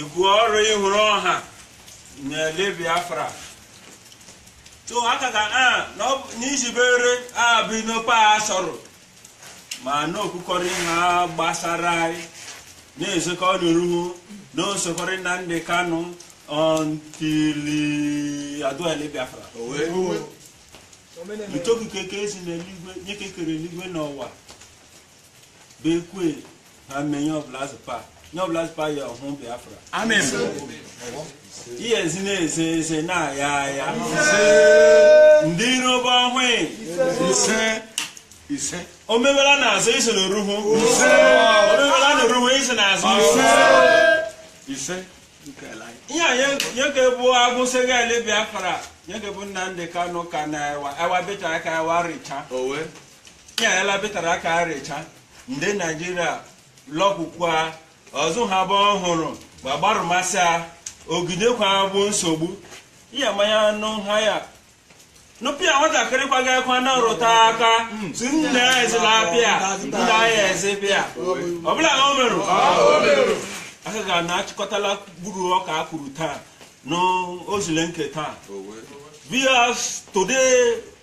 Igwe ọrụ ịhụrụ ọha na-ele Biafra so aka ka a n'izibere abụ n'okpe a sọrọ ma na-okwukọrọ ihe gbasara anyị na-ezukọ n'oruhu na osokọrị Nnamdi Kanu until adụele Biafra utoku keke ezi n'eluigwe nye kekere eluigwe na ụwa bekwe ha mee nye ọbụla zụpa nye ọbụla zụpa ya ọhụ biafra amen ihe ezi na-eze eze na-aya aya ndị iro bụ ọhụụ ise ise omebela n'azụ isi na oruhu omebela na oruhu isi na azụ ise ihe nye ke bụ agụsị ga-ele biafra nye ke bụ nnamdi kanu ka na ewa ewa beta aka ewa richa ya elabịtara aka arịcha ndị naijiria lọkwukwa ọzụ ha bụ ọhụrụ ma gbarụmasị a ogidekwa bụ nsogbu ya manya anụ ha ya nụpịa nwatakịrị kwaga ekwa na rụta aka si nne ya ezila apịa nna ya ezi pịa ọbụla o merụ aka ga na achịkọtala gburu ọka a kwuru taa n'ozule nke taa viewers today